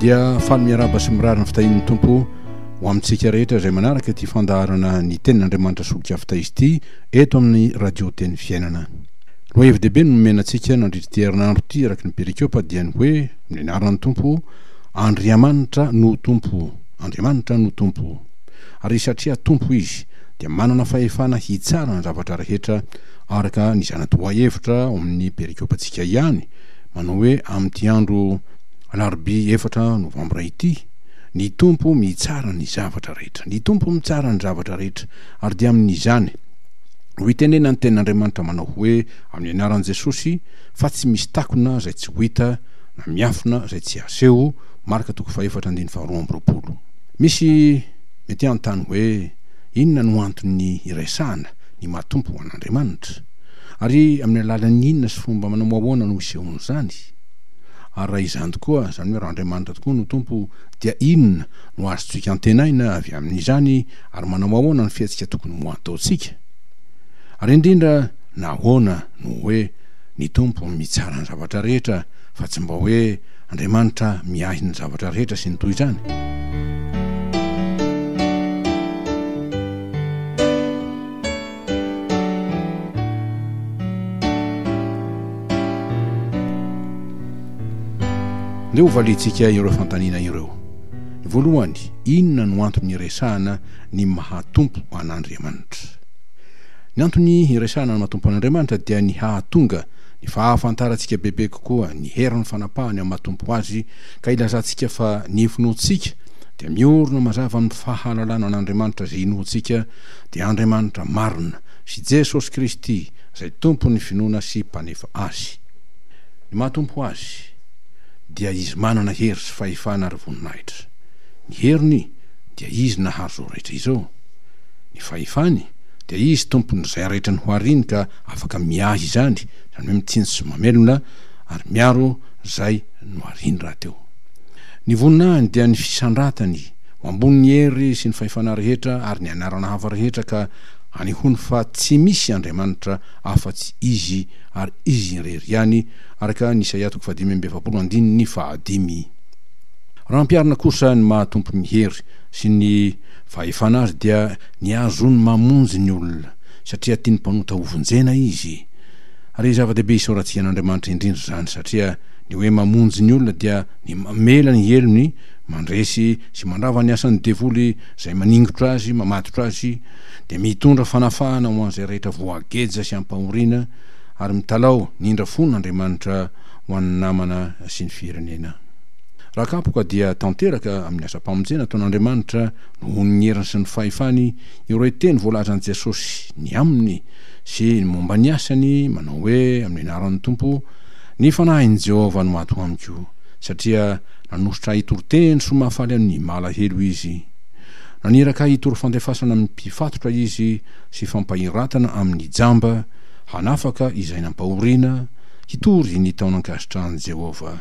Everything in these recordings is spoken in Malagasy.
dia faly miaraba sy mirary ny fitahian'ny tompo ho amintsika rehetra izay manaraka ity fandaharana ny tenin'andriamanitra solika fitaizy ity eto amin'ny radio teny fiainana loha hevi-dehibe no nomenantsika nandritry ty herinandro ity araky ny perikopa dia ny hoe mianaran'ny tompo andriamanitra no tompo andriamanitra no tompo ary satria tompo izy dia manana fahefana hitsara ny zavatra rehetra araka ny zanatoa hevitra ao amin'ny perikopantsika ihany Manao hoe amin'ity andro alarobia efatra novambra ity, Ny Tompo mitsara ny zavatra rehetra. Ny Tompo mitsara ny zavatra rehetra. Ary dia amin'izany no itenenan'ny Tenin'Andriamanitra manao hoe, Amin'ny Anaran'i Jesosy, fa tsy misy takona izay tsy ho hita na miafina izay tsy haseho, Marka toko fahefatra andininy faharoa amby roapolo. Misy mety hanontany hoe, Inona no anton'ny iresahana ny maha Tompo an'Andriamanitra? Ary amin'ny alalan'ny inona sy fomba manao ahoana no isehoan'izany? Ary raha izany tokoa, izany hoe raha Andriamanitra tokoa no Tompo, dia inona no azontsika antenaina avy amin'izany, ary manao ahoana ny fihetsika tokony ho ataontsika? Ary indrindra, nahoana no hoe ny Tompo mitsara ny zavatra rehetra, fa tsy mba hoe Andriamanitra miahy ny zavatra rehetra sy ny toy izany? Dia hovaliantsika ireo fanontaniana ireo. Ny voalohany, inona no antony iresahana ny maha-Tompo an'Andriamanitra? Ny antony iresahana ny maha-Tompo an'Andriamanitra dia ny hahatonga ny fahafantarantsika bebe kokoa ny herin'ny fanapahany amin'ny maha-Tompo Azy ka hilazantsika fa ny finoantsika dia miorina mazava amin'ny fahalalana an'Andriamanitra izay inoantsika dia Andriamanitra marina sy Jesosy Kristy izay Tompon'ny finoana sy Mpanefa azy. Ny maha Tompo azy dia Izy manana hery sy fahefana ary voninahitra. Ny heriny dia Izy nahary izao rehetra izao. Ny fahefany dia Izy Tompon'izay rehetra nohariny ka afaka miahy izany, izany hoe mitsinjo sy mamelona ary miaro izay nohariny rahateo. Ny voninahiny dia ny fisandratany Mambony ny hery sy ny fahefana rehetra ary ny anarana hafa rehetra ka anehoany fa tsy misy Andriamanitra afa-tsy Izy ary Izy irery ihany, araka ny Isaia toko fahadimy amby efapolo andininy fahadimy. Raha ampiharina kosa ny maha Tompon' ny hery sy ny fahefana Azy dia ny azony mamonjy ny olona, satria tiany mpanota hovonjena Izy. Ary zava-dehibe isaorantsika an' Andriamanitra indrindra izany, satria ny hoe mamonjy ny olona dia ny mamela ny helony Mandresy sy mandrava ny asan'ny devoly izay maningotra azy, mamatotra azy, dia mitondra fanafahana ho an'izay rehetra voageja sy ampahoriana, ary mitalaho ny indra fony Andriamanitra ho an'ny namana sy ny firenena. Raha kapoka dia tanteraka amin'ny asam-pamonjena ataon'Andriamanitra nohon'ny heriny sy ny fahefany ireo teny voalazan'i Jesosy ny aminy sy ny momba ny asany manao hoe amin'ny anaran'ny Tompo, Ny fanahin'i Jehovah no ato amiko, satria Nanositra ahy hitory teny soa mahafaly an'i Malahelo izy. Naniraka ahy hitory fandefasana amin'ny mpifatotra izy sy fampahiratana amin'ny jamba, hanafaka izay nampahoriana, hitory ny taonan-kasitrahan'i Jehovah.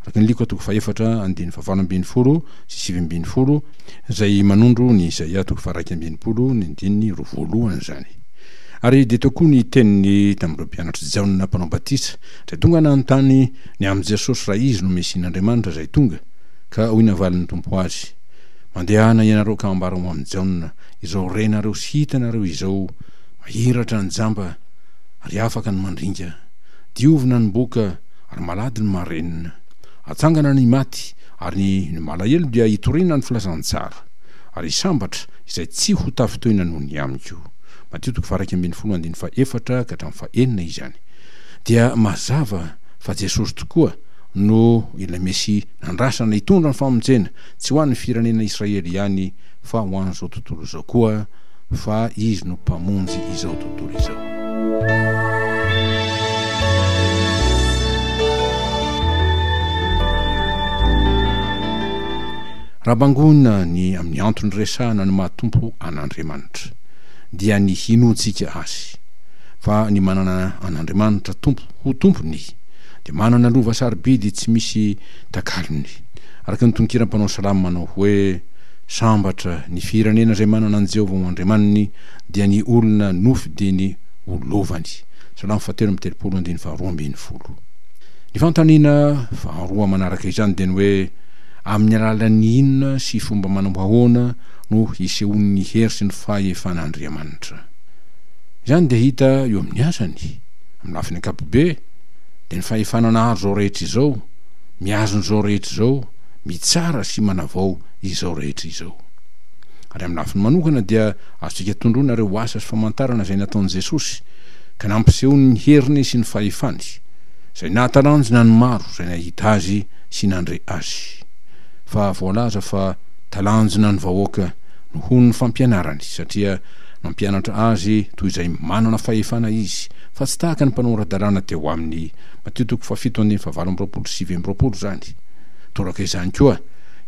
Araka ny Lioka toko fahefatra andininy fahavalo ambin'ny folo sy sivy ambin'ny folo, izay manondro ny Isaia toko faharaika amby enimpolo ny andininy roa voalohany izany. Ary dia teo koa ny teniny tamin'ireo mpianatr'i Jaona Mpanao Batisa, Dia tonga nanontany ny amin'i Jesosy raha Izy no Mesia n'Andriamanitra izay tonga, ka hoy navalin'ny Tompo azy, Mandehana hianareo ka ambara ho amin'i Jaona izao renareo sy hitanareo izao mahiratra ny jamba ary afaka ny mandringa, diovina ny boka ary malady ny marenina, atsangana ny maty ary ny malahelo dia hitoriana ny filazantsara, ary hisambatra izay tsy ho tafintohina noho ny amiko. Matio toko faha iraika ambin'ny folo andininy faha efatra ka hatramin'ny faha enina izany. dia mazava fa Jesosy tokoa no ilay Mesia nandrasana hitondra ny famonjena, tsy ho an'ny firenena Israely ihany fa ho an'izao tontolo izao koa, fa Izy no Mpamonjy izao tontolo izao. Raha bangoina ny amin'ny antony resahana ny maha-Tompo an'Andriamanitra, dia ny hinoantsika Azy. fa ny manana an'Andriamanitra Tompo ho Tompony dia manana lova sarobidy tsy misy takalony. Araka ny tononkiran'ny mpanao salamo manao hoe, Sambatra ny firenena izay manana an'i Jehovah ho Andriamaniny, dia ny olona nofidiny ho lovany. Salamo fahatelo amby telopolo, andininy faharoa ambin'ny folo. Ny fanontaniana faharoa manaraka izany dia ny hoe, Amin'ny alalan'ny inona sy fomba manao ahoana no hisehoan'ny hery sy ny fahefan'Andriamanitra? Izany dia hita eo amin'ny asany. Amin'ny lafiny ankapobe, dia ny fahefana nahary izao rehetra izao, mihazona izao rehetra izao, mitsara sy manavao izao rehetra izao. Ary amin'ny lafiny manokana dia azontsika tondroina ireo asa sy famantarana izay nataon'i Jesosy, ka nampisehoany ny heriny sy ny fahefany, izay nahatalanjona ny maro izay nahita Azy sy nandre Azy. Fa voalaza fa talanjona ny vahoaka nohon'ny fampianarany, satria Mampianatra azy toy izay manana fahefana izy, fa tsy tahaka ny mpanao ara-dalàna teo aminy. Matio toko fahafito andininy fahavalo amby roapolo sy sivy amby roapolo izany. Toraka izany koa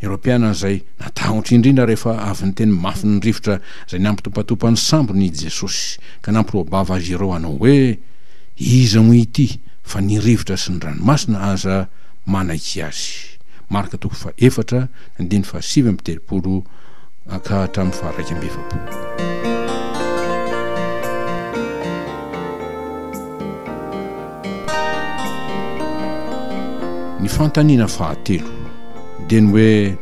ireo mpianany izay natahotra indrindra rehefa avy niteny mafy ny rivotra izay nampitopatopa ny sambony i Jesosy, ka nampiroa-bava azy ireo hanao hoe, Iza moa ity fa ny rivotra sy ny ranomasina aza manaiky azy? Marka toko fahefatra andininy fahasivy amby telopolo. Ankà hatramin'ny faha iraika amby efapolo. Ny fanontaniana fahatelo dia ny hoe,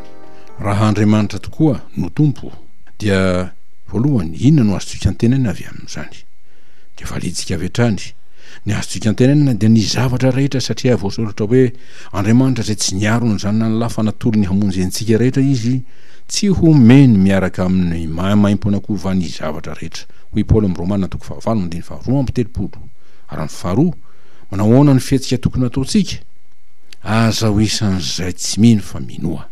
Raha Andriamanitra tokoa no Tompo, dia voalohany, inona no azontsika antenaina avy amin'izany? Dia validintsika avy hatrany, Ny azontsika antenaina dia ny zavatra rehetra satria voasoratra hoe, Andriamanitra izay tsy niaro ny Zanany lafana tory ny hamonjy antsika rehetra Izy, Tsy homeny miaraka amin'ny maimaimpoana kova ny zavatra rehetra, hoy Paoly amin'ny Romana toko fahavalo andininy faharoa amby telopolo. Ary amin'ny faharoa, manao ahoana ny fihetsika tokony hataontsika? Aza ho isan'izay tsy mino fa minoa.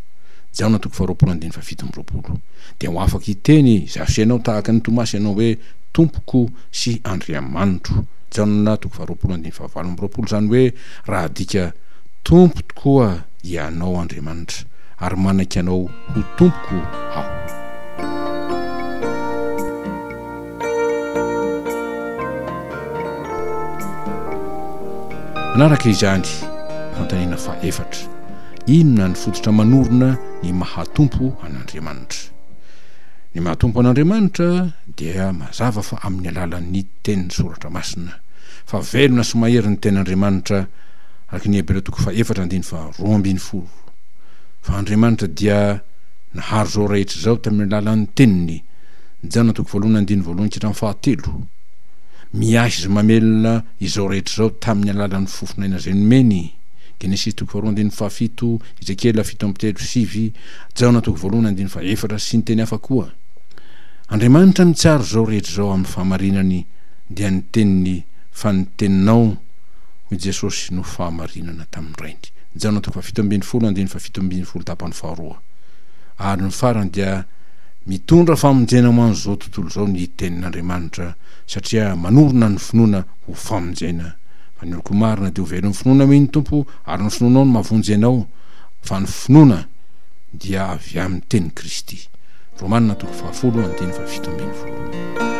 Jaona toko faharoapolo andininy fahafito amby roapolo. Dia ho afaka hiteny izay asenao tahaka an'i Tomasy ianao hoe, Tompoko sy Andriamanitro. Jaona toko faharoapolo andininy fahavalo amby roapolo, izany hoe raha adika, Tompo tokoa Ianao Andriamanitra. ary manaiky anao ho tompoko aho. Manaraka izany, fanontaniana faha efatra, inona ny fototra manorina ny maha tompo an'Andriamanitra? Ny maha tompo an'Andriamanitra dia mazava fa amin'ny alalan'ny tenin'ny soratra masina, fa velona sy mahery ny tenin'Andriamanitra, araka ny Hebreo toko faha efatra andiny faha roa ambin'ny folo. fa Andriamanitra dia nahary izao rehetra izao tamin'ny alalan'ny Teniny, Jana toko voalohany andininy voalohany ka hatramin'ny fahatelo. Miahy izay mamelona izao rehetra izao tamin'ny alalan'ny fofon'aina izay nomeny, Genesisy toko faharoa andininy fahafito, Ezekiela fito amby telo, sivy, Jaona toko voalohany andininy fahefatra, sy ny teny hafa koa. Andriamanitra mitsara izao rehetra izao amin'ny fahamarinany, dia ny Teniny, fa ny Teninao, hoy Jesosy, no fahamarinana tamin'ny Rainy. Jano toko fahafito ambin'ny folo andininy fahafito ambin'ny folo tapany faharoa ary ny farany dia mitondra famonjena ho an'izao tontolo izao ny tenin'Andriamanitra satria manorina ny finoana ho famonjena fa ny oloko marina dia ho velon'ny finoana amin'ny Tompo ary ny finoanao no mavonjy anao fa ny finoana dia avy amin'ny teny Kristy Romana toko fahafolo andininy fahafito ambin'ny folo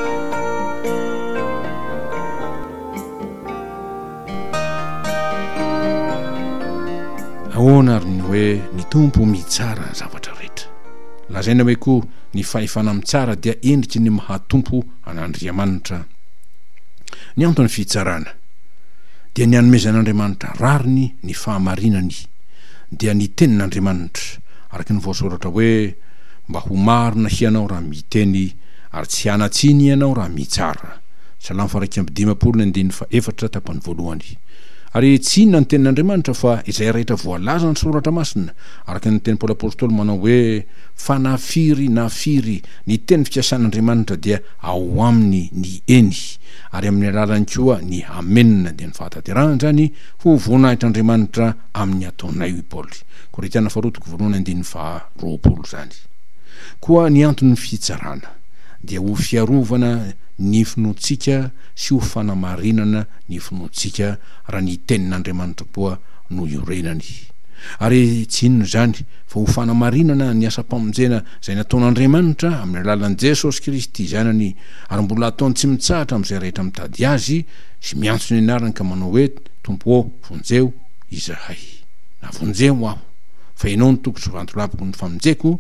Ahoana ary ny hoe ny Tompo mitsara ny zavatra rehetra? Lazaina hoe koa ny fahefana mitsara dia endriky ny maha Tompo an'Andriamanitra. Ny anton'ny fitsarana dia ny anomezan'Andriamanitra rariny ny fahamarinany, dia ny tenin'Andriamanitra, araka ny voasoratra hoe, Mba ho marina hianao raha miteny, ary tsy hanan-tsiny ianao raha mitsara. Salamo faha iraika amby dimampolo ny andininy faha efatra tapany voalohany. Ary tsy inona ny tenin'Andriamanitra fa izay rehetra voalaza ny soratra masina, araka ny niteny Paoly Apostoly manao hoe, Fa na firy na firy ny teny fikasan'Andriamanitra dia ao aminy ny Eny, ary amin'ny alalany koa ny Amena, dia ny fahatanterahana izany ho voninahitr'Andriamanitra amin'ny ataonay, hoy Paoly. Korintiana faharoa toko voalohany andininy faha roapolo izany. Koa ny anton'ny fitsarana dia ho fiarovana ny finoantsika sy ho fanamarinana ny finoantsika raha ny Tenin'Andriamanitrompoa no iorenany. Ary tsy inona izany fa ho fanamarinana ny asam-pamonjena izay nataon'Andriamanitra amin'ny alalan'i Jesosy Kristy Zanany ary mbola ataony tsy mitsahatra amin'izay rehetra mitady Azy sy miantso ny anarany ka manao hoe, Tompo ô, vonjeo izahay. Na vonjeo aho, fa Ianao no toko sy vantolapoko ny famonjeko,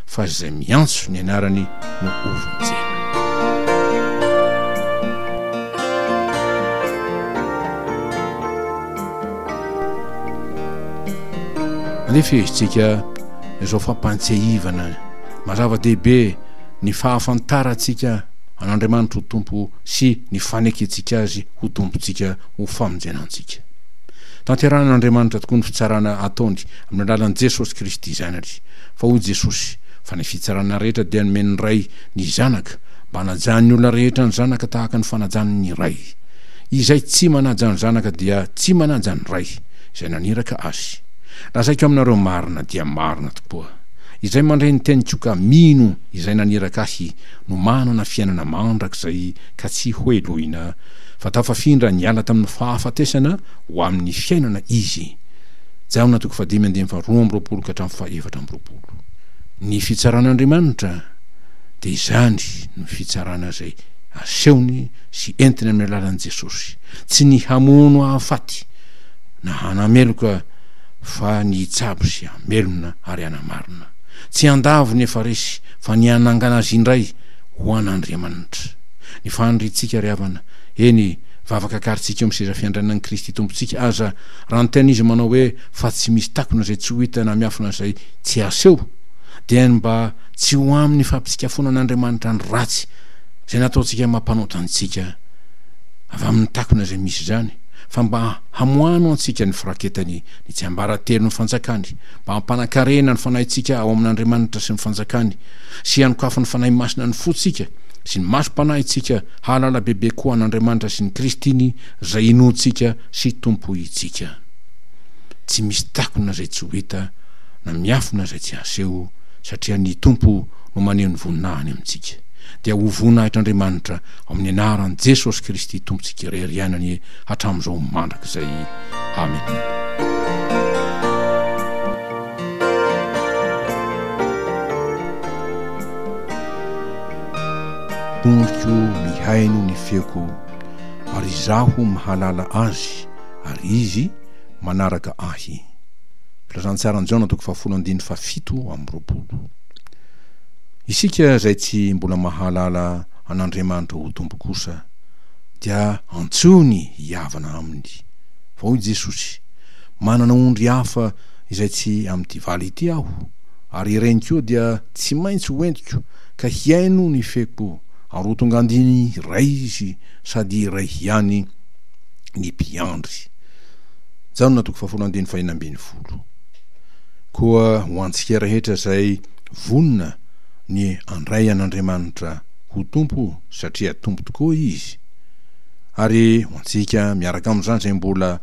fa izay miantso ny anarany no hovonjena. Andeha fehezitsika izao fampantsiahivana mazava-dehibe ny fahafantarantsika an'Andriamanitra ho Tompo sy ny fanekentsika azy ho Tompontsika ho famonjena antsika. Tanterahan'Andriamanitra tokoa ny fitsarana ataony amin'ny alalan'i Jesosy Kristy Zanany. Fa hoy Jesosy, Fa ny fitsarana rehetra dia nomen'ny Ray ny Zanaka, mba hanajan'ny olona rehetra ny Zanaka tahaka ny fanajany ny Ray. Izay tsy manaja ny Zanaka dia tsy manaja ny Ray, izay naniraka Azy. Lazaiko aminareo marina dia marina tokoa, izay mandre ny teniko ka mino Izay naniraka Ahy no manana fiainana mandrakizay ka tsy hohelohina, fa tafafindra niala tamin'ny fahafatesana ho amin'ny fiainana izy. Jaona toko fahadimy andininy faharoa amby roapolo ka hatramin'ny fahefatra amby roapolo. Ny fitsaran'Andriamanitra dia izany no fitsarana izay asehony sy entiny amin'ny alalan'i Jesosy, tsy ny hamono hahafaty na hanameloka fa ny hitsabo sy hamelona ary hanamarina, tsy handavo ny efa resy fa ny hanangana azy indray ho an'Andriamanitra. Ny faniriantsika ry havana, eny, vavaka akarintsika eo amin'ny seza fiandrianan'i Kristy Tompontsika aza, Raha niteny izy manao hoe fa tsy misy takona izay tsy ho hita na miafina izay tsy aseho, dia ny mba tsy ho amin'ny fampitsikafonan'Andriamanitra ny ratsy izay nataontsika mampanota antsika avy amin'ny takona izay misy izany, fa mba hamoahano antsika ny firaketany ny tsiambaratelon'ny fanjakany, mba hampanakarena ny fanahintsika ao amin'Andriamanitra sy ny fanjakany, sy hanokafy ny Fanahy Masina ny fontsika sy ny masom-panahintsika hahalala bebe koa an'Andriamanitra sy ny Kristiny izay inoantsika sy Tompo itsika. Tsy misy takona izay tsy ho hita na miafina izay tsy haseho satria ny Tompo no maneho ny voninahiny amintsika. Dia ho voninahitr'Andriamanitra ao amin'ny anaran'i Jesosy Kristy Tompontsika irery ihany anie hatramin'izao mandrakizay. Amena. Tompoko mihaino ny feoko. ary izaho mahalala Azy, ary Izy manaraka Ahy. Filazantsaran'i Jaona toko fahafolo andininy fahafito amby roapolo. Isika izay tsy mbola mahalala an'Andriamanitra ho Tompo kosa dia antsoiny hihavana Aminy. Fa hoy Jesosy, Manana ondry hafa izay tsy amin'ity valo ity Aho, ary ireny koa dia tsy maintsy hoentiko ka hihaino ny feko, Arotongan-diny iray izy sady iray ihany ny mpiandry. Jaona toko fahafolon'ny andininy fahena ambin'ny folo. Koa ho antsika rehetra izay vonona ny handray an'Andriamanitra ho Tompo satria Tompo tokoa Izy, ary ho antsika miaraka amin'izany izay mbola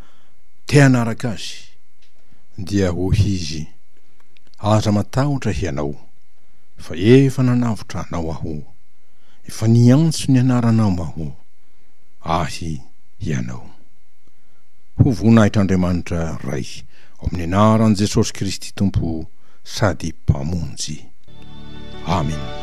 te hanaraka Azy, dia hoy Izy, Aza matahotra hianao. Fa efa nanavotra anao Aho. Efa niantso ny anaranao Aho. Ahy ianao. Ho voninahitr'Andriamanitra Ray ao amin'ny anaran'i Jesosy Kristy Tompo sady Mpamonjy. Amena.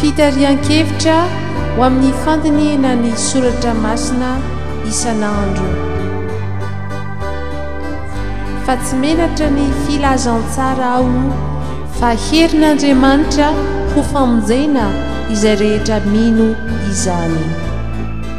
Fitarihan-kevitra ho amin'ny fandinihina ny soratra masina isan'andro. Fa tsy menatra ny filazantsara aho fa herin'Andriamanitra ho famonjena izay rehetra mino izany.